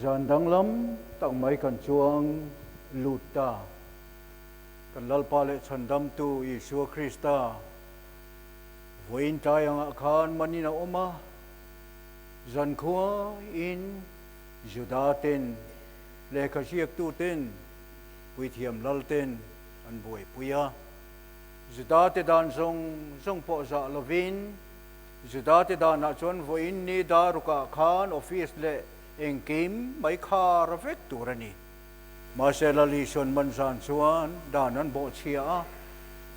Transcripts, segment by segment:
Zan danglam tak mai kan chuang lut ta. Kan Lalpa leh Chhandamtu Isua Krista vawiin tlai angah khan manin a awm a. Zan khuain Juda ten, lehkha hriaktu ten, puithiam lal ten an buaipui a. Judate dan zawng zawng pawh zah lovin Judate danah chuan vawiin Nida rukah khan office leh engkim mai khar vek tur a ni. Mahsela Lihsawn man zan chuan dan an bawh chhia a,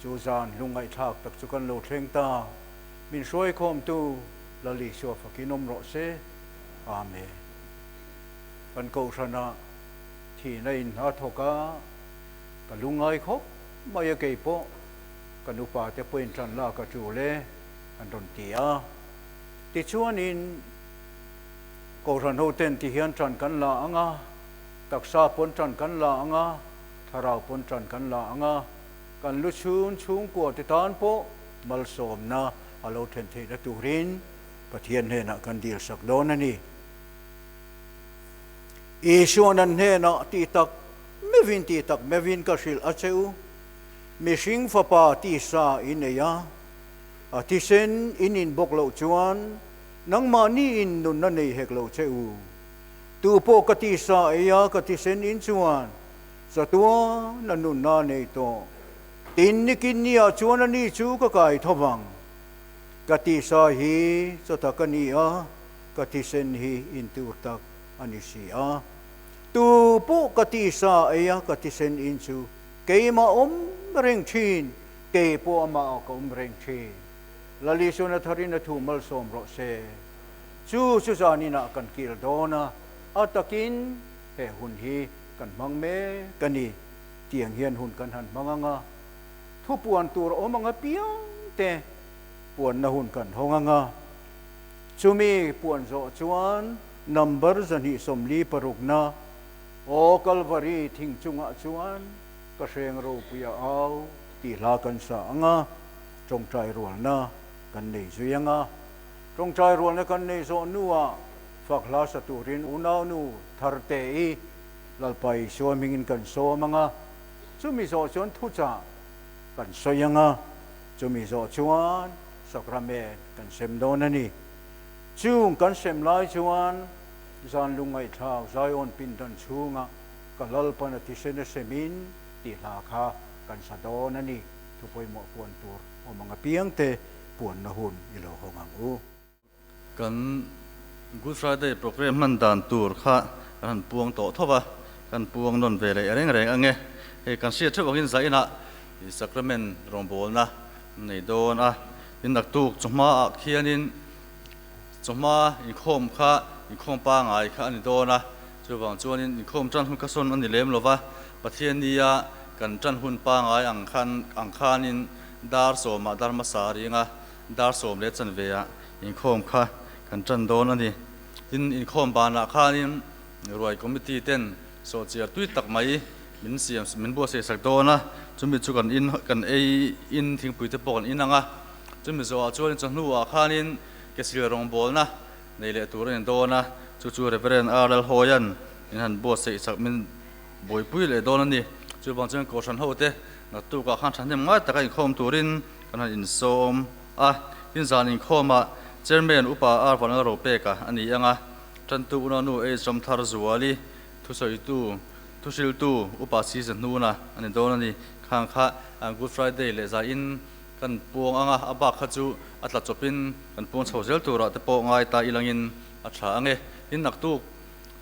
chu zan lungngaihtlak tak chu kan lo thleng ta. Min hruaikhawmtu La Lihsua fakin awm rawh se. Amen. Kan kohhrana thihna a inhna thawk a, ka lungngai khawp mai a kei pawh ka nupate pawhin tanla ka tul e. an rawn ti a. Tichuanin Kohhran hoten ti hian ṭan kan la ang a, taksa pawn ṭan kan la ang a, thlarau pawn ṭan kan la ang a, kan lu chhun chhungkua te tan pawh malsawmna a lo ṭhen theih na turin Pathian hnenah kan dil sak dawn a ni. Isua nan hnenah tih tak meuhin tih tak meuhin ka hrilh a che u, Mihring Fapa tisa i nei a. A thisen in inbawk loh chuan nangmah ni in nunna nei hek lo che u. Tu pawh ka tih sa ei a, ka thisen in chuan chatuana nunna a nei tawh. Tin nikin ni ah chuan a ni chu ka kai tho vang. Ka tih sa hi chawtak a ni a, ka thisen hi intur tak a ni si a. Tu pawh ka tih sa ei a, ka thisen in chu keimah awm reng thin. Kei pawh amah ka awm reng thin. Lalisona thar in a thu malsawm rawh se. Chu chu zan in ah kan kil dawn a, a tak in he hun hi kan hmang mek a ni tiang hian hun kan han hmang ang a. Thu puan tur a awm ang a piang te puan na hun kan hawng ang a. Chu mi puan zawh chuan number zahnih sawmli paruk na aw Calvary thing chung ah chuan Ka hreng ropui a au tih hla kan sa ang a, tawngtai rualna kan nei zui ang a. Tawngtai rualna kan nei zawh hnuah fak hla sa turin unaunu thar teh i Lalpa Isua hmingin kan sawm ang a. Chumi zawh chuan thuchah kan sawi ang a, chumi zawh chuan Sacrament kan sem dawn a ni. Chung kan sem lai chuan zan lungngaihthlau Zion pindan chhungah Ka Lalpan a ti se nasem in tih hla kha kan sa dawn a ni. Thu pawimawh puan tur awm ang apiang te puan na hun i lo hawng ang u. Kan Good Friday programme hman dan tur kha kan han puang tawh thawp a, kan puang nawn ve leh reng reng ange. Hei kan hriat theuh angin zaina i Sacrament rawngbawlna an nei dawn a, tin a tuk chu hmaah khianin, Chu hma inkhawm kha inkhawm pangai kha a ni dawn a, chuvang chuanin inkhawm tan hun kha sawn a ni lem lo va, Pathian nia kan tan hun pangai ang khan ang khanin dar sawmah Dharma sa a ring a, dar sawm leh chanveiah inkhawm kha kan tan dawn a ni. Tin, inkhawm banah khanin ruai committee ten saw chiar tui tak mai min siam min buatsaih sak dawn a, chumi chu kan in kan ei in thingpuite pawh kan in ang a, chumi zawhah chuan chawhnu ah khanin Kesil rawngbawlna nei leh tur a ni dawn a, chu chu Reverend Ar Lal Hawia'n in han buatsaih chak min buaipui leh dawn a ni. Chu vang chuan Kohhran hote naktukah khan thahnem ngai taka inkhawm turin kan han insawm a. Tin zan inkhawmah Chairman Upa Ar Valnal Ropeka a ni anga Tantu Unanu H Ramthar Zuali, Thusawitu, Thuhriltu Upa Siza Hnuna a ni dawn a ni. Khang kha Good Friday leh zaiin Kan puang anga a bak kha chu a tla chawp in kan puang chho zel turah te pawh ngai ta ilang in a thla ang e. In naktuk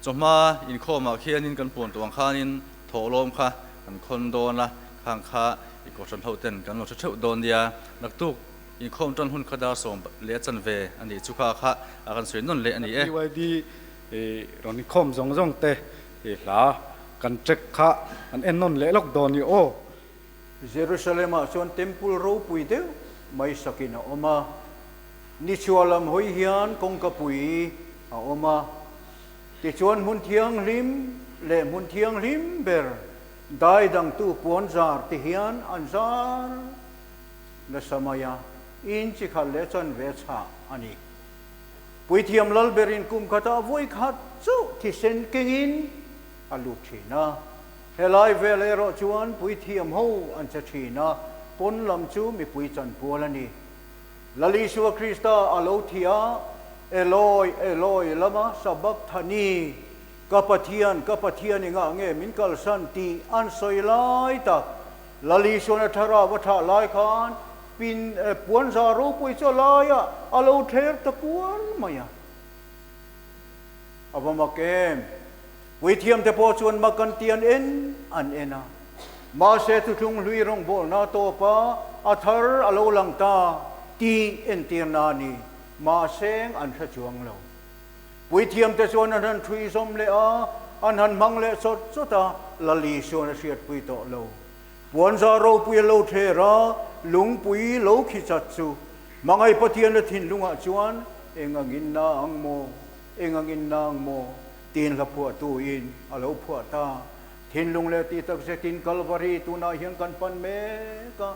chawhma inkhawm ah khian in kan puang tuang khan in thawh lawm kha kan khawn dawn a, khang kha i kohhran ho ten kan lo hre theuh dawn nia, naktuk inkhawm tan hun kha dar sawm leh a chan ve a nih chu kha kha a kan sawi nawn leh a ni e. BYD i rawn inkhawm zawng zawng te i hla kan check kha kan en nawn leh lawk dawn ni aw. Jerusalem-ah chuan temple ropui deuh mai sakin a awm a, nichhuah lam hawi hian kawngka pui a awm a, tichuan hmun thianghlim leh hmun thianghlim ber daidangtu puanzar te hian an zar nasa mai a, inchikhal leh chanve chhah a ni. Puithiam lal berin kum khatah vawi khat chuh thisen kengin a lut thin a. Helai vel erawh chuan puithiam ho an che thin a, pawn lam chu mipui chanpual a ni. Lal Isua Krista a lo thi a, Eloi, Eloi, lama sabakthani, Ka Pathian, ka Pathian i ngah nge min kalsan tih an sawi lai tak. Lal Isuana Thlarau a thah lai khan pin eh puanzar ropui chu a laia a lo thler ta kual mai a. A va mak em? Puithiam te pawh chuan mak an ti an en an en a, mahse Thuthlung Hlui rawngbawlna tawpa a thar a lo lang ta tih entirna a ni, mahseng an hre chuang lo. Puithiam te chuan a hnan thuizawm leh a, a hnan hmang leh chawt chawt a, Lali chuan a hriatpui tawh lo. Puanzar ropui a lo ther a, lungpui lo khichat chu hmangaih Pathiana thinlungah chuan eng angin na ang maw, eng angin na ang maw? Tiin hla phuah tu in a lo phuah ta. Thinlung leh tih tak zet in Calvary tun ah hian kan pan mek a.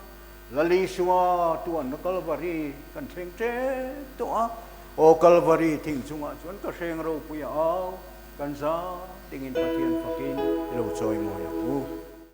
Lal Isua tuan na Calvary kan thleng ṭek tawh a. Aw Calvary thing chung ah chuan ka hreng ropui a au. Kan zah ding in Pathian fakin i lo chawi mawi ang u.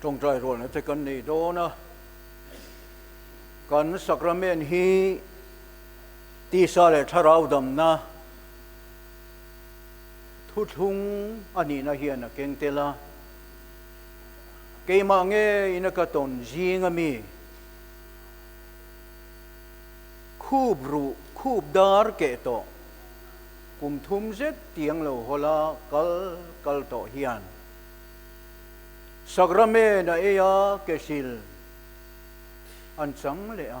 Tawngtai rualna te kan nei dawn a, kan sacrament hi tisa leh thlarau damna thuthlung a nihna hian a keng tel a. Keimah nge ina ka tawn zing a mi? Khup ruh, khup dar keh tawh, kum thum zet tiang lo hawla kal kal tawh hian. Sacrament a eia ke hrilh an chang leh a.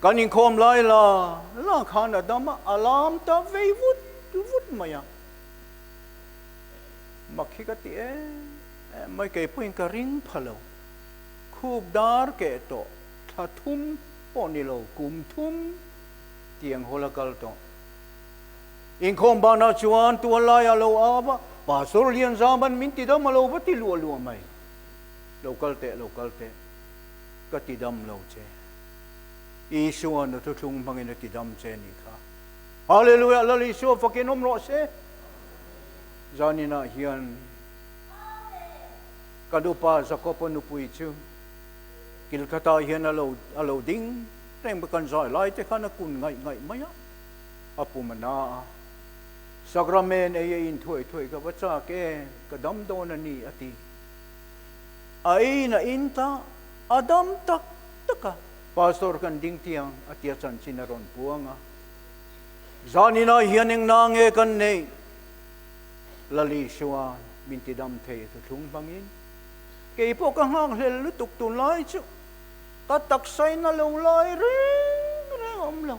Kan inkhawm lai la la khan a dam a, a lam ta vei vut vut mai a. Mak hi ka ti em em mai, kei pawhin ka ring pha lo. Khup dar keh tawh, thla thum pawh ni lo, kum thum tiang hawl a kal tawh. Inkhawm banah chuan tual lai a lo au a, Pastor Lianzam an min ti dam a lo va ti luah luah mai. Lo kal teh, lo kal teh, ka ti dam lo che. Isua na thuthlung hmangin a ti dam che nih kha. Hallelujah! Lal Isua fakin awm rawh se. Zaninah hian ka nupa Jacob-a nupui chu kil khatah hian a lo a lo ding reng bawk a, kan zai lai te khan a kun ngaih ngaih mai a. a pum a na a. Sacrament ei a inthuai thuai ka va chak e, ka dam dawn a ni a ti. A eiin a in ta, a dam tak tak a, Pastor kan ding tiang a tia chanchin a rawn puang a. Zan in ah hian eng na nge kan neih? Lali chuan min ti dam thei a thu thlung hmang in, kei pawh ka nghak hlel lutuk tunlai chu ka taksa in a lo lai reng reng awm lo.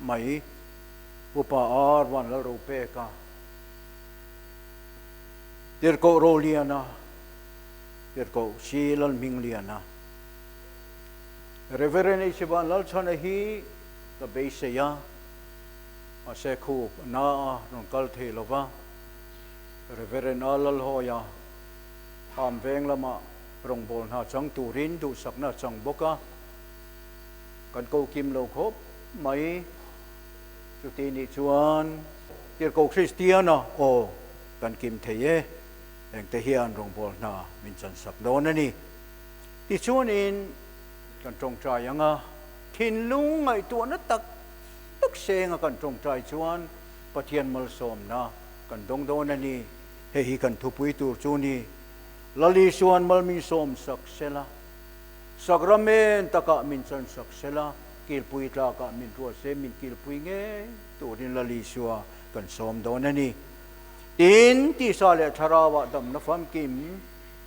mai upa a ruan lal ro pek a, tirhkoh ro lian a, tirhkoh si lal hming lian a. Reverend Eichiban Lalchhana hi ka beisei a, mahse khu a na a rawn kal thei lo va, Reverend a Lalhawia Khamveng lamah rawngbawlhna chang turin duhsakna a chang bawk a. Kan ko kim lo khawp mai chuti nih chuan tirhkoh Kristiana aw kan kim thei e, engte hian rawngbawl hna min chansak dawn a ni. Tichuanin kan tawngtai ang a, thinlung ngaihtuahna tak tak senga kan tawngtai chuan Pathian malsawmna kan dawng dawn a ni. Hei hi kan thupui tur chu ni, Lalisua an malminsawm sak sela. Sacrament takah min chansak se la, kilpui tlakah min ruat se, min kilpui ngei turin la li sua kan sawm dawn a ni. Tin, tisa leh thlarau ah damna famkim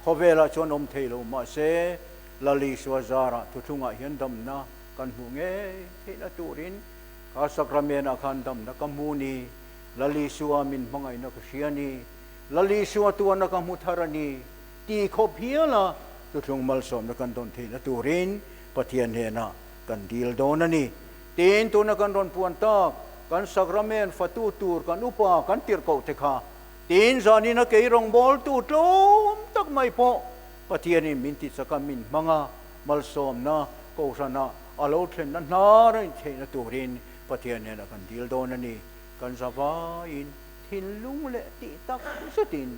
khawvel ah chuan awm thei lo mah se, la li sua zar ah thuthlung ah hian damna kan hmuh ngei theihna turin kha Sacrament ah khan damna ka hmu ni, la li sua min hmangaihna ka hria ni, la li sua tuarna ka hmu thar a ni. Ti khawp hial a, chu thlung malsawmna kan dawn theihna turin Pathian hnena kan dil dawn a ni. Tin, tuna kan rawn puan tak, kan Sacrament fatu tur kan upa kan tirh koh te kha, tin zanin a keirawngbawltu tlawm tak mai pawh Pathianin min tichak a, min hmang a, malsawmna Kohhranah a lo thlenna hna raih theihna turin Pathian hnena kan dil dawn a ni. Kan zavaiin thinlung leh tihtak zetin.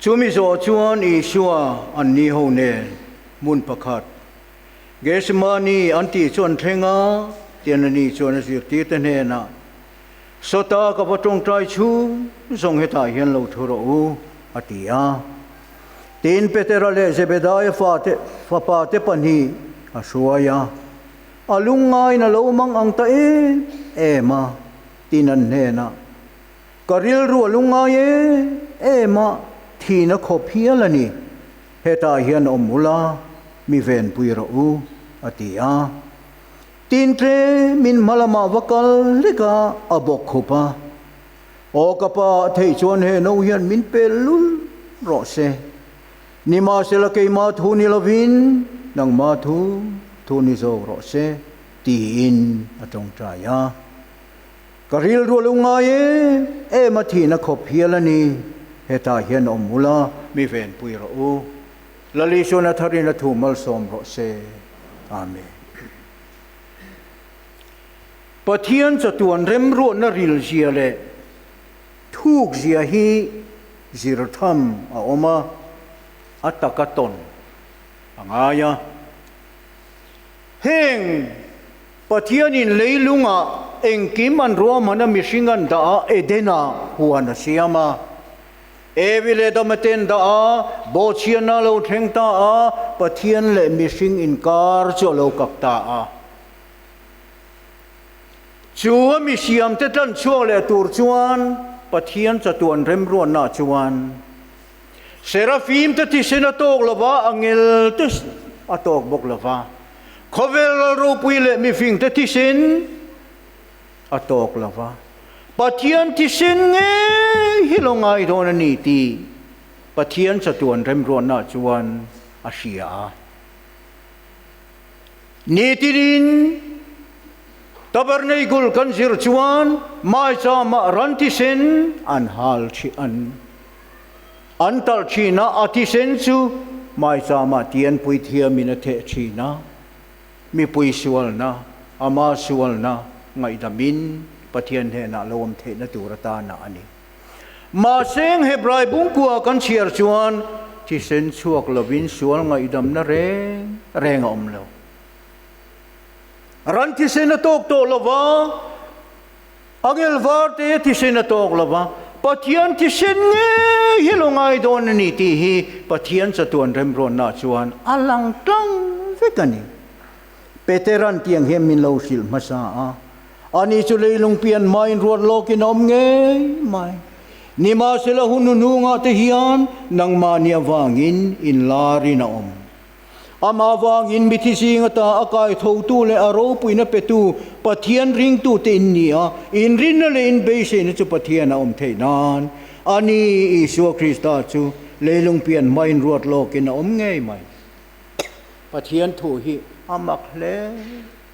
Chu mi zawh chuan Isua an ni ho nen hmun pakhat Getsemani an tih chu an thleng a, tian a ni chuan a zirtirte hnenah, Sawta ka va tawngtai chu zawng hetah hian lo thu rawh u, a ti a. Tiin Petera leh Zebedaiah fate fapa te pahnih a hruai a, A lungngaina lo mang ang ta em em a, tin an hnenah. Ka rilru a lung ngai em em a, thin a khawp hial a ni. Hetah hian awm ula, mi venpui rawh u, a ti a. Tin tle min hma lamah va kal hlek a, a bawk khup a. Aw ka pa, theih chuan he no hian min pel lul rawh se. Ni mahsela keimah thu ni lovin nangmah thu, thu ni zo rawh se, tiin a tawngtai a. Ka rilrual u ngai e, em a thihna khawp hial a ni, hetah hian a awm ula, mi venpui rawh u. Lali chuan a thar in a thu malsawm rawh se. Amen. Pathian chatuan remruatna rilzia leh thukzia hi zir tham a awm a, a taka tawn a ngai a. Heng! Pathianin leilungah engkim an ruahman a mihring an dah a, Edena huan a siam a. Evi leh Dama ten dah a, bawhchhianna a lo thleng ta a, Pathian leh mihring inkar chu a lo kak ta a. Chu a mi siamte tlanchhuak leh tur chuan Pathian chatuan remruatna chuan Seraphim te thisen a tawk lo va, a ngel te a tawk bawk lo va, khawvel ral ropui leh mihring te thisen a tawk lo va, Pathian thisen ngei hi lo ngaihdawn a ni tih Pathian chatuan remruahna chuan a hria a. Nitinin Tabernacle kan zir chuan Maicha mah ran thisen an hal ṭhi an An talh thin a, a thisen chu Maicha mah Tian Puithiam in a theh thin a, mipui sualna, ama sualna ngaihdam in Pathian hnenah lo awm theihna tur atana a ni. Mahse Hebrai bungkua kan chhiar chuan thisen chhuak lo in sual ngaihdamna reng reng a awm lo. Ran thisen a tawk tawh lo va. Angel var te thisen a tawk lo va, Pathian thisen ngei hi lo ngai dawn a ni tih hi Pathian chatuan remruatna chuan a lang tlang vek a ni. Peter an tih ang hian min lo hrilh hmasa a, ani chu leilung pian hmain ruat lawkin a awm ngei mai. Nimahsela hun hunhungah te hian nangmahni avangin in larin a awm. Amah vangin mithi zinga ta a kaithotu leh a ropuina petu Pathian ringtute in ni a, inrinna leh in beiseina chu Pathian a awm theih nan a ni. Isua Krista chu leilung pian hmain ruat lawkin a awm ngei mai. Pathian thu hi a mak hle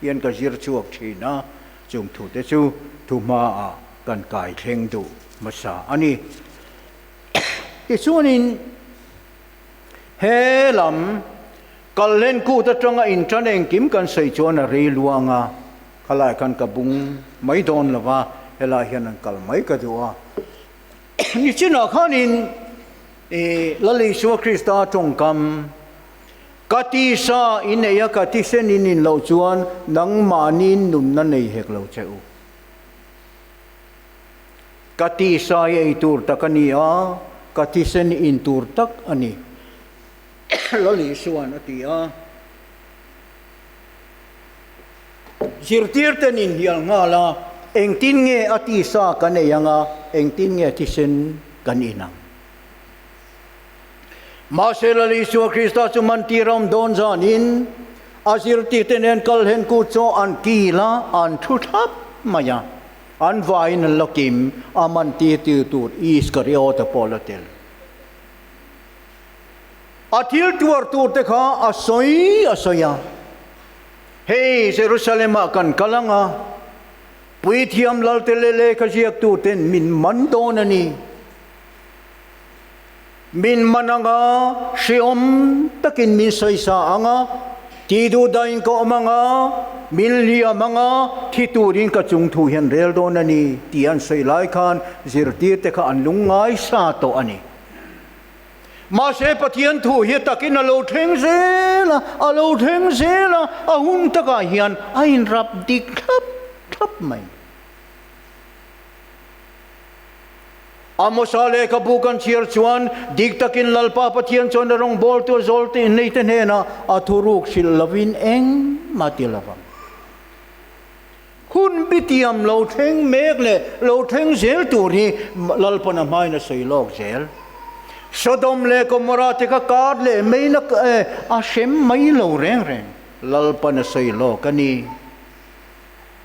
hian ka zir chhuak thin a, chung thute chu thu hmaah kan kai thleng duh hmasa a ni. Tichuanin. He lam kal hian kut atanga in tan engkim kan sawi chuan a rei luang a, khalai khan ka bung mai dawn lo va, helai hian an kal mai ka duh a. Nichinah khanin i Lali Isua Krista tawngkam ka ti sa i neih a, ka ti sen i nin loh chuan nangmahniin nunna nei hek lo che u. Ka ti sai ei tur tak a ni a, ka thisen in tur tak a ni. Lali chuan a ti a. Zirtirte nin hial nghal a, engtin nge a ti sa kan ei ang a, engtin nge thisen kan in ang? Mahse Lali chuan Krista chu man ti ram dawn zan in a zirtirte nen kal hen kut chu an kil a, an thu thlap mai a. An vaiin an la kim, a man tirtu tur Iskariota pawh la tel. A thil tuar turte kha a sawi a sawi a, Hei Jerusalemah kan kal anga puithiam lalte leh lehkha ziaktu ten min man dawn a ni. min man anga hriawm takin min sawi sa anga ti duh dahin ka awm anga min hliam anga thi turin ka chung thu hian rel dawn a ni tih an sawi lai khan zirtir te kha an lung ngai sa tawh a ni. Mahse Pathian thu hi takin a lo thleng zel a, a lo thleng zel a, a hun takah hian a inrap dik thlap thlap mai. Amosa lehkha bu kan chhiar chuan dik takin Lalpa Pathian chuan a rawngbawltu zawlte neite hnena a thuruk hrilh lovin engmah ti lovang. Hun bitiam lo thleng mek leh lo thleng zel tur hi Lalpana hmain a sawi lawk zel. Sodom leh Gomorrah te kha kar leh meina a hrem mai lo reng reng Lalpana sawi lawk a ni.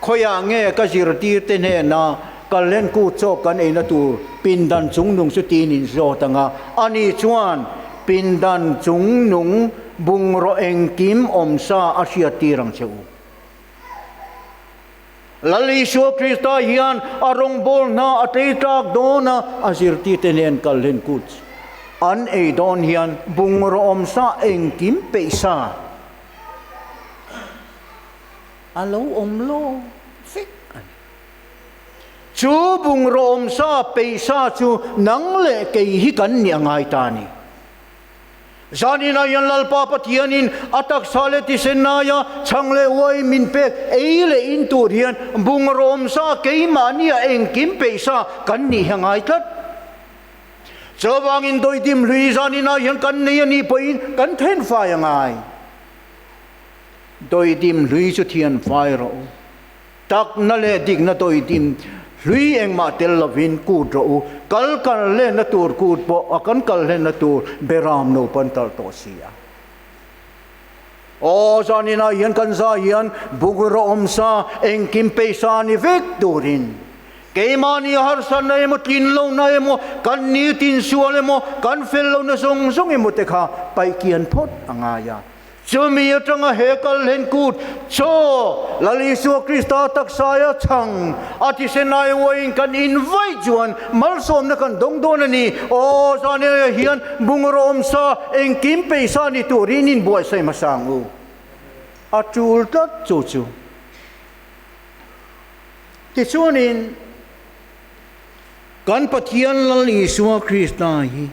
Khawiah nge ka zirtirte hnena Kalhen kut chawk kan eina tur pindan chungnung chu tiin in zawt ang a, a ni chuan pindan chungnung bungraw engkim awm sa a hriattir ang che u. Lal Isua Krista hian a rawngbâwl hna a tleitlâk dawn a, a zirtirte hnên Kalhen kut an ei dawn hian bungraw awm sa engkim peih sa, a lo awm lawm vek a ni. Chu bungraw awm sa peih sa chu nang leh kei hi kan nih a ngai ta a ni. Zan in a hian Lalpa Pathianin a taksa leh tisen laia chhang leh uai min pek ei leh in tur hian bungraw awm sa keimahnia engkim peih sa kan nih hi a ngai tlat. Chuvangin dawi dim hlui zan in a hian kan nei a nih pawhin kan then fai a ngai. Dawidim hlui chu thian fai rawh u. Takna leh dikna dawidim hlui engmah tel lovin kut rawh u. Kal kal lenna tur kut pawh a kan kal hlenna tur Beram lo pantal tawh si a. Aw zan inah hian kan zah hian bungraw awm sa engkim pei sa ni vek turin keimahni harsatna emaw tlin lohna emaw kan ni tinsual emaw kan fel lohna zawng zawng emaw te kha paihkian phawt a ngai a. Chumi atanga he kal hlen kut chaw Lal Isua Krista taksaia chhang a thisen ai uaiin kan invite chuan malsawmna kan dawng dawn a ni. Aw zaniaia hian bungraw awm sa, engkim pei sa ni turin inbuaihsaih hmasang u. A tul tlat chu chu. Tichuanin kan Pathian Lal Isua Krista hi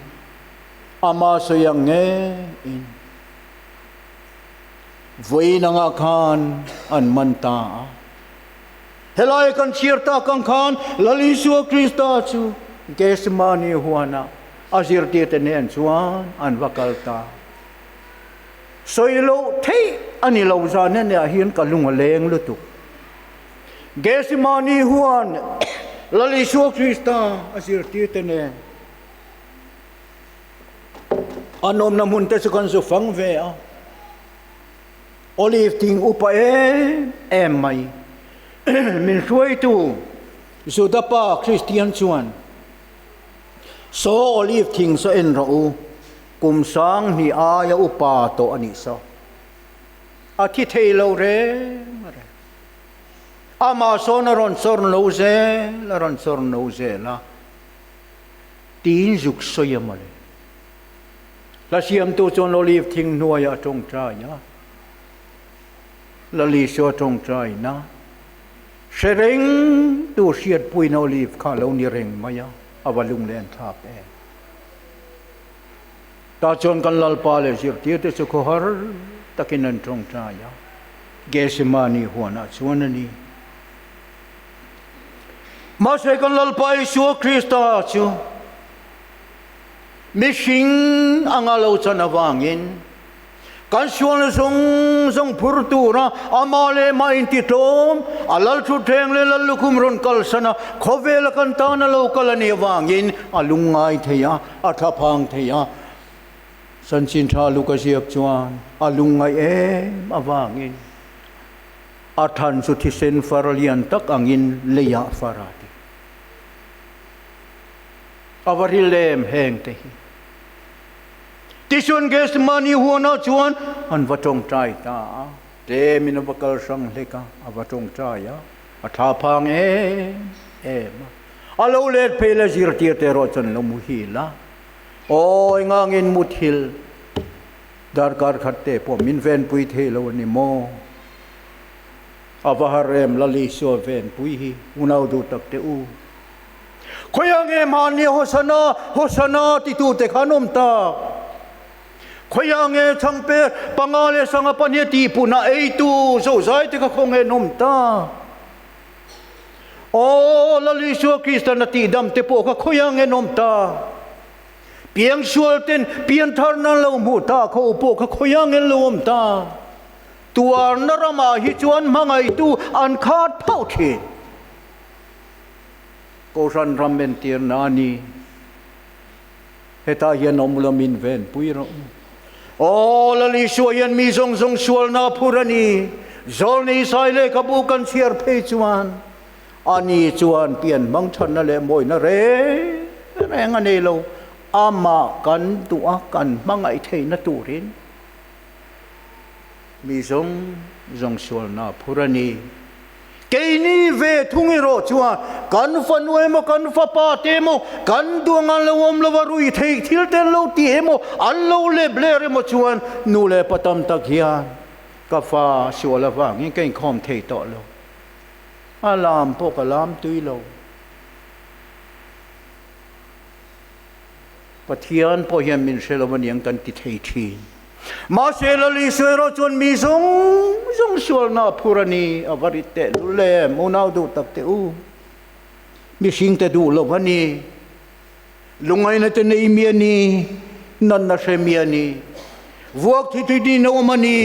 Amah sawi ang ngeiin vawiinangah khan an man ta a. Helai kan chhiar tak ang khan Lal Isua Krista chu Gethsemane huanah a zirtirte nen chuan an va kal ta. Sawi loh theih a ni lo zane neh ah hian ka lung a leng lutuk. Gethsemane huan Lal Isua Krista a zirtirte nen. An awmna hmun te chu kan zu fang ve a. Olive ting upa em em mai. Min hruaitu Juda pa Kristian chuan Saw olive thing saw en rawh u, kum sang hnih aia upa tawh a nih saw. A thi thei lo reng a reng. Amah sawn a rawn chawrn lo zel a rawn chawrn lo zel a. Tiin zuk sawi a mawle. Hla siamtu chuan Olive thing hnuaia a tawngtai a. Lali chu a tawngtai na. Hre reng tu hriatpuina Olive kha a lo ni reng mai a, a va lunglen thlap em. Tah chuan kan Lalpa leh zirtirte chu khawhar takin an tawngtai a. Gethsemane huanah chuan a ni. Mahse kan Lalpa Isua Krista chu mihring anga lo chan avangin kan sualna zawng zawng phur tura amah leh mah intitlawm a lal thutthleng leh lal lukhum rawn kalsana khawvela kan tana lo kal a nih avangin a lungngai thei a, a thlaphang thei a. Sanchin tha Luka ziak chuan a lungngaih em avangin A than chu thisen far lian tak angin leiah far a ti. A va hril em heng te hi? Tichuan Gethsemane huanah chuan an va tawngtai ta a, tlemin a va kal hrang hlek a, a va tawngtai a, a tha phang em em a. A lo let phei la zirtir te erawh chuan lo muhil a, awi ngangin muthil. Darkar khat te pawh min venpui thei lo a ni maw? A va har em Lalisua venpui hi? Unau duh tak teh u. Khawi ang em han nia Hosana, Hosana titu te khan awm tak. Khawi ang e Chhangper, panga leh sanga pahniha tihpunah eitu Zozai te kha khawng en awm tak. Aw, Lalisua Kristian a tihdam te pawh kha khawi ang en awm tak. Piangsual ten pianthar nan lo hmuh ta kho pawh ka khawi a ngel lo awm ta. Tuarna ramah hi chuan hmangaitu an khat phauh thin. Kohhran ram entirna a ni. Heta hian awm lo min ven pui rawh. Aw Lali Suai hian mi zawng zawng sualna a phur a ni. Zawlnei Saileka bu kan chhiar phei chuan Ani chuan pian hmang thanna leh mawina reng reng a nei lo. Amah kan duh a, kan hmangaih theihna turin mi zawng zawng sualna a phur a ni. Keini ve thung erawh chuan kan fanu emaw, kan fapa te emaw, kan duang a lo awm lo a, rui theih thil te an lo ti emaw, an lo lep ler emaw chuan nu leh pa tam tak hian ka fa sual avangin ka inkhawm thei tawh lo. A lam pawh ka lam tui lo. Pathian pawh hian min hre lo a niang kan ti thei thin. Mahse Lali sawi erawh chuan mi zawng zawng sualna a phur a ni. A va rit teh lul em. Unau duh tak teh u. Mihringte duh lo a ni. Lungainate nei mi a ni, natna hre mi a ni, vuak thi thei dihna awm a ni,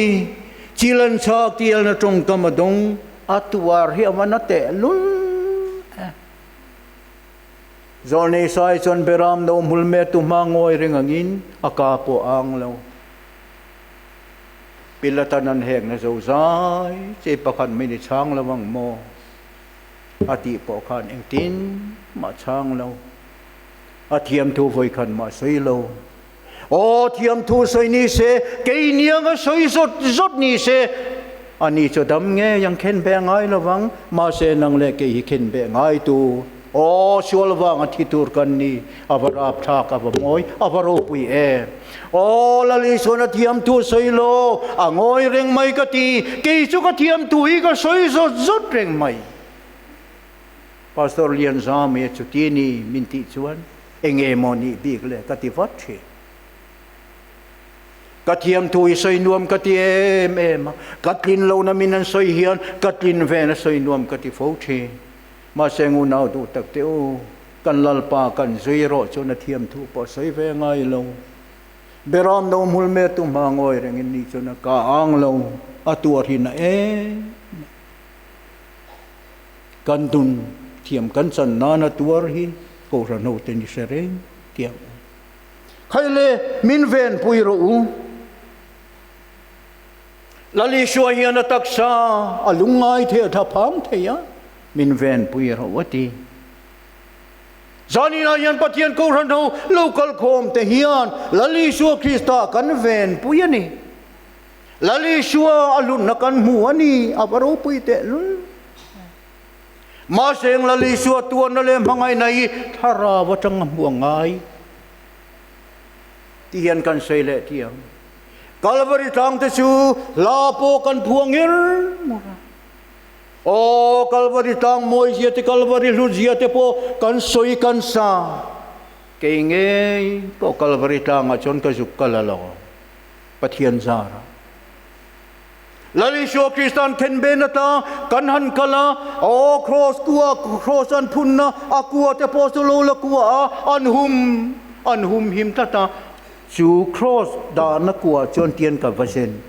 chilan chha kialna tawngkam a dawng, a tuar hi a man a teh lul e. Zawlnei sai chuan Beram no hmul me tu hma ngawi reng angin a ka pawh a ang lo. Pilata'n an hekna zo zai che pakhat mai ni chhang lo ang maw? a tih pawh khan engtin mah chhang lo. A thiam thu vawi khan mah sawi lo. Aw thiam thu sawi ni se, kei niang a sawi zawt zawt ni se. A ni chu dam ngei ang khen beh ngai lo vang, mahse nang leh kei hi khen beh ngaitu aw sual vanga thi tur kan ni. A va rap thlak, a va ngawi, a va ropui e. Aw, Lal Isuan a thiamtu sawi law a ngawi reng mai ka ti. Kei chu ka thiamtu hi ka sawi zawt zawt reng mai. Pastor Lianzam e chuti ni min tih chuan eng e maw nih bik le ka ti vat thin. Ka thiamtu hi sawi nuam ka ti em em a, ka tlin lo na min an sawi hian ka tlin ven a sawi nuam ka ti fo thin. Mahse ngu nau duh tak teh u, kan Lalpa kan zui erawh chuan a thiam thu pawh sawi ve ngai lo. Beram no hmul me tu hma ngawi rengin ni chuan a ka ang lo, a tuarhin a em em. Kan dun thiam kan chan nan a tuar hi kohhran ho ten i hre reng kiang u. Khaile min venpui rawh u. Lali hruai hian a taksa a lungngai thei a tha pham thei a, min venpui a rauh a ti. Zan inah hian Pathian ko hranho lo kal khawm te hian Lali hrua Krista kan venpui a ni. Lali hrua a hlunna kan hmu a ni, a va ropui teh lul. Mahse eng Lali hrua tuanna leh hmangaihna hi thlarau atang a hmu a ngai? Ti hian kan sawi leh ti ang. Kalvari tlangte chu hla pawh kan phuang ngir ngir a. Aw, Kalvari tlang mawizia te, Kalvari hlutzia te pawh kan sawi kan sa. Kei ngei pawh Kalvari tlangah chuan ka zuk ka la lo, Pathian zarah. Lal Isua Krista'n khenben ata kan han kal a, aw Kraws kua Kraws an phunna a kua te pawh chu lo la kua a, an hum an hum him tlat a, chu Kraws dahna kuah chuan tian ka va zen,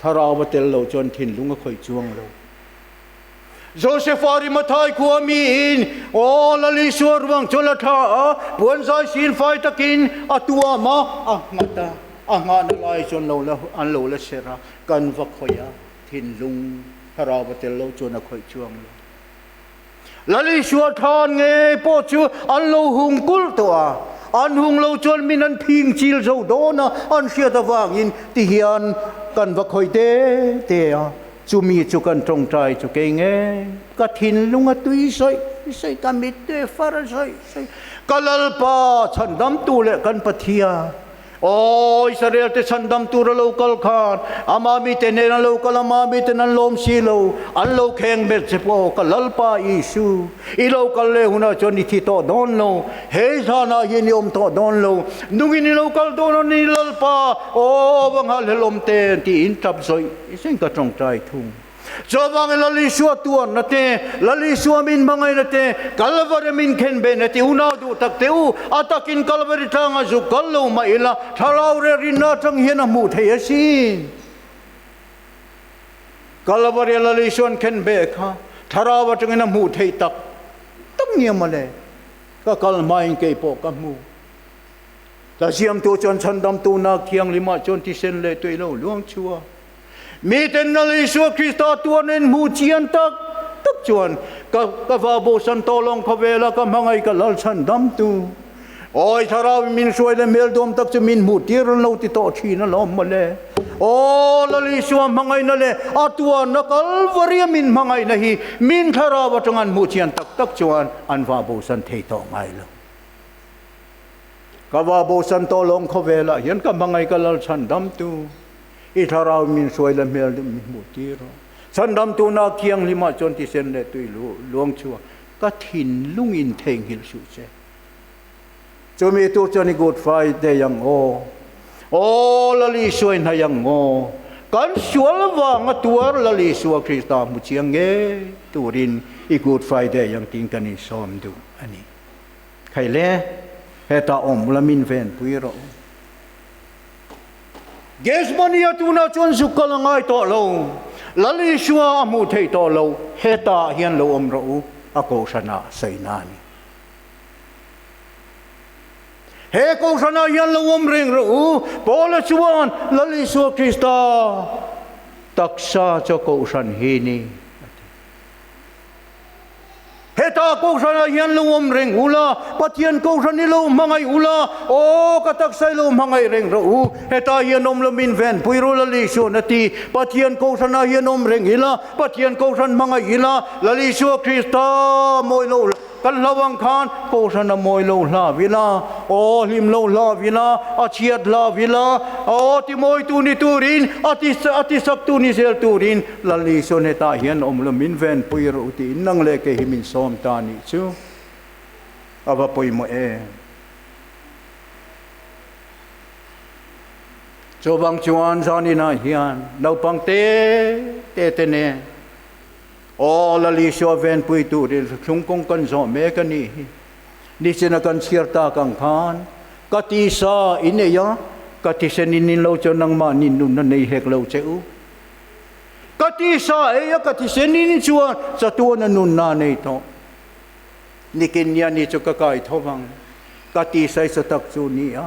thlarau va tel loh chuan thinlung a khawih chuang lo. Joseph Arimathai khua mi in aw lal Isua ruang chawlh a thlah a, puan zai sin fai takin a tuam a, a nghat a, a nghahna lai chuan lo la an lo la ser a, kan va khawih a, thinlung thlarau va tel lo chuan a khawih chuang lo. Lal Isua than ngei pawh chu an lo hung kulh tawh a, an hung lo chuan min an phing chil zo dawn a, an hriat avangin ti hian kan va khawih te te a, Chumi chu kan tawngtai chu kei ngei, ka thinlung a tui sawi sawi, ka mittu e far sawi sawi, ka Lalpa chhandamtu leh kan Pathian. Aw, Israelte chhandam tura lo kal khan, amah mite nen an lo kal, amah mite nen an lawm si lo, an lo kheng hmet che pawh, ka Lalpa Isu, i lo kal leh hunah chuan i thi tawh dawn lo, he zânah hian i awm tawh dawn lo, nungin i lo kal dawn a ni Lalpa, aw, va nghalhlel awmte, tiin tap zawih. Insen ka tawngtai thung. Chuvang i Lal Isua tuarna te, Lal Isua min hmangaihna te, Calvary min khenbehna te unau duh tak teh u. A takin Calvary tlangah zuk kal lo mah ila thlarau rerinna atang hian a hmuh theih a si. Calvary-ah Lal Isuan khenbeh kha thlarau atangin a hmuh theih tak tak ni a male. Ka kal hmain kei pawh ka hmu. Tlaziam tu chuan chhandamtu nak thianglima chuan thisen leh tuei lo luang chua. Mi tenal Isua Krista tuan a inhmu chian tak tak chuan ka ka va bu san tawh lawng kha vel a ka hmangaih ka lal chhandamtu. Awi thlarau in min hruai le hmel duam tak chu min hmu tir lo ti tawh thin a lawm maw le. Aw lal Isua hmangaihna leh a tuanna Kalvaria min hmangaihna hi min thlarau atanga an hmu chian tak tak chuan an va bu san thei tawh ngai lo. Ka va bo Santaw lawng khawvelah hian ka hmangaih ka lal chhan damtu i thlarau min hruai la hmel deuh min hmuh tir a. Chhan damtu nak thianghlim ah chuan tisen leh tui luang chhuak ka thinlung in theihnghilh hruh che. Chumi tur chuan i Good Friday ang aw, aw Lali suai hnaih ang aw, kan sual vang a tuar Lali sual Krista hmu chiang ngei turin i Good Friday ang tiin kan insawm duh a ni. Hei le, heta awm ula min ve an pui rawh. Gethsemane a tunah chuan zuk ka la ngai tawh lo, Lal Isua a hmuh theih tawh lo, heta ah hian lo awm rawh u, a Kohhrana sawiina a ni. He Kohhran ah hian lo awm reng rawh u, Paula chuan Lal Isua Krista taksa chu Kohhran hi ni a ti. Heta kohhranah hian lo awm reng ula, Pathian kohhran i lo hmangaih ula, Aw, ka taksa i lo hmangaih reng rawh u, heta hian awm lo min ven pui rawh Lal Isua na ti, Pathian kohhranah hian awm reng ila, Pathian kohhran hmangaih ila, Lal Isua Krista mawi lo hla, kan hlau ang khan kohhran a mawi lo hlau ila, aw, hlim lo hlau ila, a chhiat hlau ila, aw, timawitu ni turin, a ti, a tisaktu ni zel turin, Lali chuan hetah hian awm lo min ven pui ro tiin nang leh kei hi min sawm ta nih chu a va pawimawh e. Chuvang chuan zaninah hian naupang te te te nen aw Lali saw ven pui turin thlung kawng kan zawh mek a nih hi. Nichina kan chhiar tak ang khan ka ti sa i nei a, ka thisen in in lo chuan nangmah nin nunna nei hek lo che u. Ka ti sa ei a ka ti se ni ni chuan chatuan a nun na nei tawh. Nikin nia ni chu ka kai tho vang. Ka ti sai sa tak chu ni a.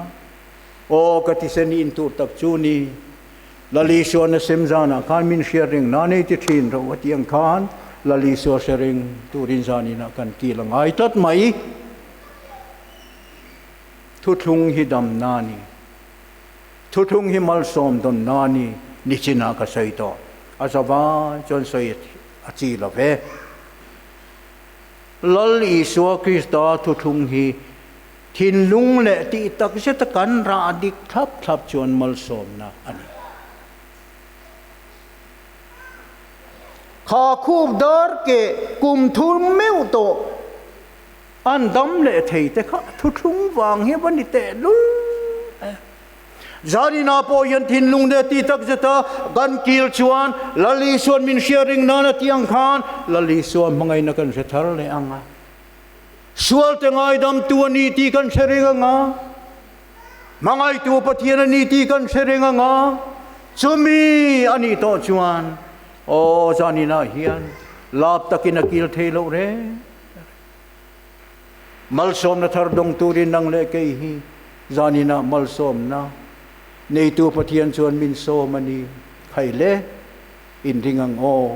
Aw ka ti se ni in tur tak chu ni. Lalisuan a sem zan ah khan min hriat reng na nei ti thin ro a tiang khan Lalisua hre reng turin zan in ah kan kil a ngai tlat mai. Thuthlung hi dam na ni. Thuthung hi malsawm dawn nani nichinah ka sawi tawh. A za va chuan sawi a chi lo ve. Lal Isua Krista thuthung hi thinlung leh tih takzeta kan rah dik thlap thlap chuan malsawmna a ni. Kha khup dar keh, kum thum meuh tawh. An dam leh thei te kha thuthlung vang hi va ni teh luh e. Zanina pawh hian thinlung nge ti tak zeta kan kil chuan Lalisuan min hria ring nan a ti ang khan Lalisuan hmangaihna kan hre thar leh ang a. Sualte ngaidamtu a ni tih kan hre reng ang a. Hmangaitu Pathian a ni tih kan hre reng ang a. Chumi a nih tawh chuan aw zanina hian lap takin a kil thei loh reng. Malsawmna thar dawng turin nang leh kei hi zanina malsawmna neitu Pathian chuan min sawm a ni. Khai le, in ring ang aw.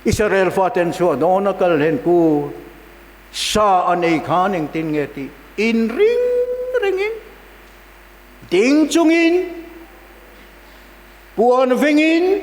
Isarel faten chhuah dawn a kal hen ku sa a nei khan engtin nge tih in ring ringin ding chungin puan vengin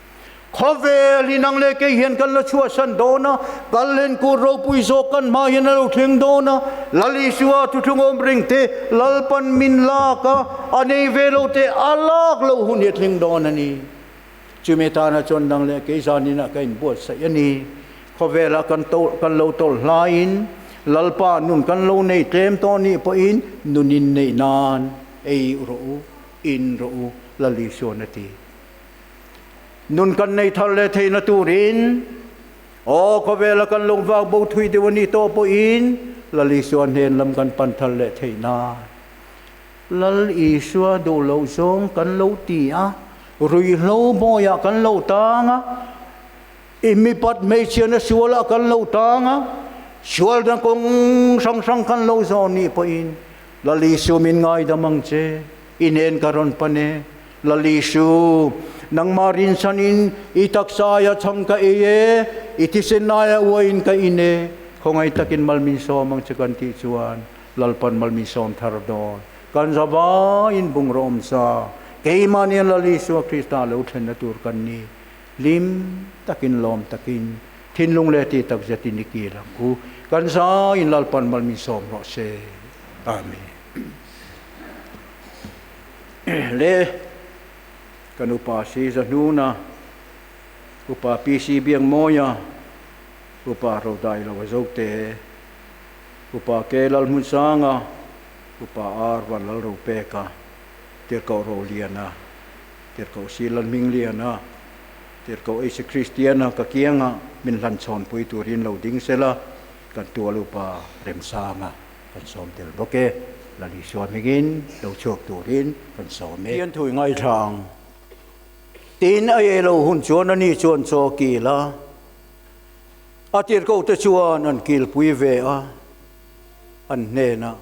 Khawvel hi nang leh kei hian kan la chhuahsan dawn a, kal hian kut ropui zawk kan hma hian a lo thleng dawn a, Lal Isua thutthlung awm reng te, Lalpan min lak a, a nei ve lo te a lak loh hun hi a thleng dawn a ni. Chumi tana chuan nang leh kei zan in a ka in buatsaih a ni. Khawvel ah kan to kan lo tawlh hlai in Lalpa nun kan lo nei tlem tawn nih pawh in nun in nei nan ei rawh u, in rawh u, Lal Isuan a ti. Nun kan nei thar leh theihna turin aw khawvela kan lo vak bo thui deuh a nih tawh pawhin Lal Isua hnen lam kan pan thar leh theih nan Lal Isua duh loh zawng kan lo ti a, ruihhlo bawiah kan lo tang a, i mipat hmeichhiana sualah kan lo tang a, sualdan kawng hrang hrang kan lo zawh a nih pawhin Lal Isu min ngaidam ang che. I nen ka rawn pan e, Lalisu. Nangmah rinsan in i taksa aiah chhang ka ei e, i thisen laiah uai in ka in e. Khawngaih takin Malminsawm ang che kan tih chuan Lalpan Malminsawm thar dawn. Kan za va in bung rawh awm sa. Keimah nen Lalisu a Krista lo thlenna tur kan ni. Hlim takin lawm takin thinlung leh tih tak zet in i kil ang u. Kan za in Lalpan Malminsawm rawh se. Amen. le kan upa si zahnuna upa PC biang mawia upa Rodai lo a zote upa ke lal hmun sanga upa ar van lal ro peka tirkau ro liana tirkau si lal hming liana tirkau Isa Kristiana ka kianga min hlan chhawn pui turin lo ding sela kan tual upa remsanga. kan sawm tel bawk e, Lali sual hmingin lo chhuak turin kan sawm e. Hian thui ngaithla ang. Tiin a ei lo hun chuan ani chuan chaw a kil a, a tirhkohte chuan an kilpui ve a, an hnenah,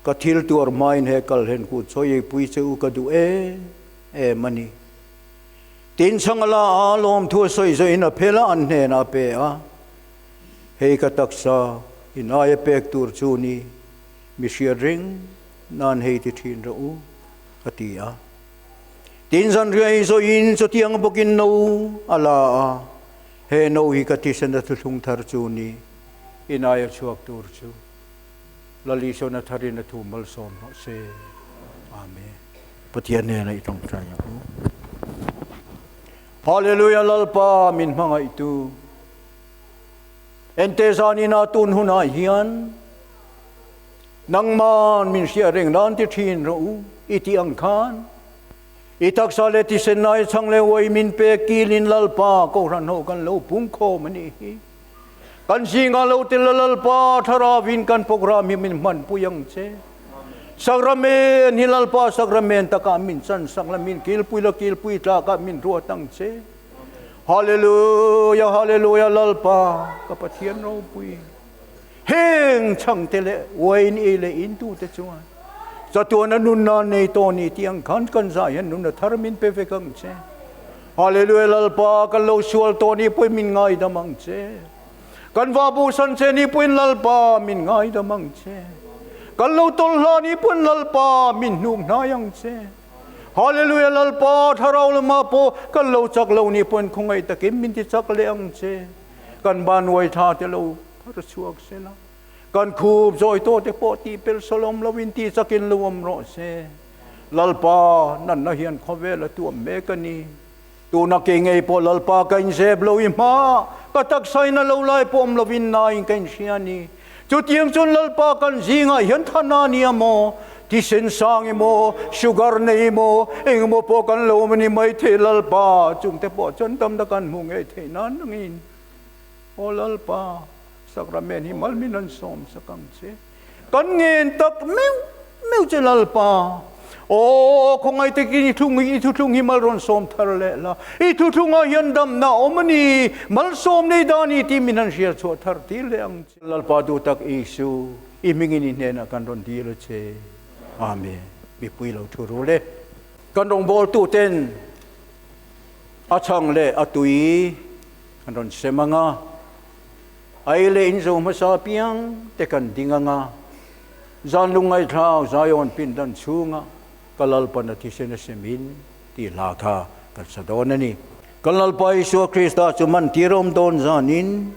Ka thil tuar hmain he kalhen kut chawi eipui che u ka duh em em a ni. Tiin Chhangala a lawmthua sawi zawhin a phel a, an hnenah a pe a. Hei ka taksa in aia pek tur chu ni mi hriat reng nan hei ti thin rawh u ka ti a. Tin zanriah in zawih in chutiang bawk in no a la a, he no hi ka thisen a thuthlung thar chu ni in aia chhuak tur chu Lali sawn a thar in a thu malsawm hlawh se. Amen. Pathian nen a i tawngtai ang u. Hallelujah Lalpa min hmangaihtu. Ente zanin a tun hunah hian nangman min hriat reng dan ti thin rawh u i tih ang khan i taksa leh tisenna i chang leh uai min pek kilin Lalpa kohhran ho kan lo pungkhawm a nih hi. Kan zingah lo tel la Lalpa Thlaravin kan programme hi min hmanpui ang che. Sacrament hi Lalpa Sacrament takah min chansak la, min kilpui la kilpui tlakah min ruat ang che. Hallelujah, Hallelujah, Lalpa, ka Pathian ropui. Heng chhang te leh wain ei leh in tu te chuan chatuan a nun nan nei to ni tiang khan kan zai hian nun a thar min pe vek ang che. Hallelujah, Lalpa, kan lo sual to ni pui min ngai dam ang che. Kan va bu san che ni puin Lalpa min ngai dam ang che. Kan lo tawlh hla ni puin Lalpa min hnum hnai ang che. Hallelujah Lalpa, Thlarau lama pawh kan lo chak lo ni pawn khawngei takin min ti chak leh ang che. Kan banruai thla te lo phar chhuak se la, kan khup zawi tawh te pawh tihpel salawm lovin ti chakin lo awm rawh se. Lalpa, natna hian khawvel a tuam mek a ni. Tuna kei ngei pawh Lalpa ka inzep lo i hma ka taksa in a lo lai pawm lo in naiin ka inhria a ni. Chutiang chuan Lalpa kan zingah hian thana a nia maw? Thisen sang emaw, sugar nei emaw, engemaw pawh kan lo awm a ni maithei Lalpa, chungte pawh chuan tam tak an hmuh ngei theih nan angin. Aw Lalpa, Sacrament hi malmin an sawm sak ang che. Kan ngen tak meuh meuh che Lalpa. Aww khawngai takin i thu i thuthlung hi mal rawn sawm thar leh la. I thuthlungah hian damna a awm a ni. Mal sawm nei dan a ni tih min han hriat chhuah thar tir leh ang che. Lalpa duhtak Isu i hmingin i hnenah kan rawn dil a che. Amen. Mipui lo thu ru le kan rawngbawltu ten a chhang leh a tui kan rawn sem ang a. Aile in zo hmasa piang te kan ding anga, zan Lungngaithlak Zion pindan chhunga ka Lalpa na thisen a si min tih hla kha kan sa dawn a ni. Kan Lalpa Isua Krista chu man tirawm dawn zan in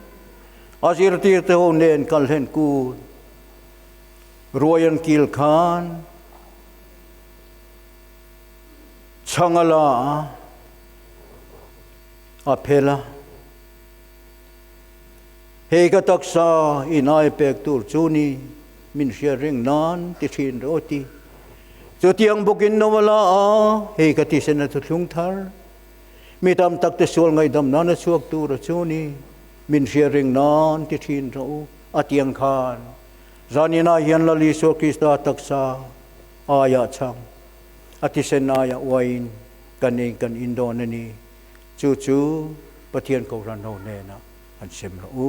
a zirtirte ho nen kan hlen kut ruai an kil khan chhang a la a, a phel a. Hei ka taksa i nai pek tur chu ni, min hriat reng nan ti thin rawti. Chutiang bawkin no a la a, hei ka ti sen a thuthlung thar. Mi tam tak te sual ngaidam nan a chhuak tura chu ni, min hriat reng nan ti thin rawh u. A tiang khan zan in ah hian Lal Isua Krista taksa aiah chang, a thisen aiah uaiin kan nei kan in dawn a ni. Chu chu Pathian kohhran ho hnena han hrem rawh u.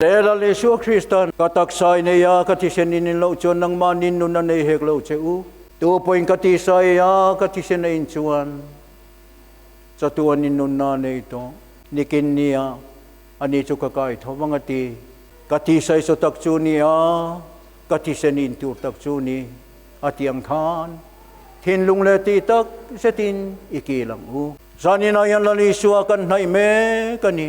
Tela Isua Krista, ka taksa i nei a, ka thisen i nin loh chuan nangmah nin nun a nei hek lo che u. Tu pawhin ka tisa i a, ka thisen a in chuan chatu a nin nunna a nei tawh. Nikin nia, ani chu ka kai tho vang a ti. Ka tisa i saw tak chu ni a, ka thisen i in tur tak chu ni, a ti ang khan thinlung leh tih tak zetin i kil ang u. Zaninah hian Lal Isua kan hnaih mek a ni.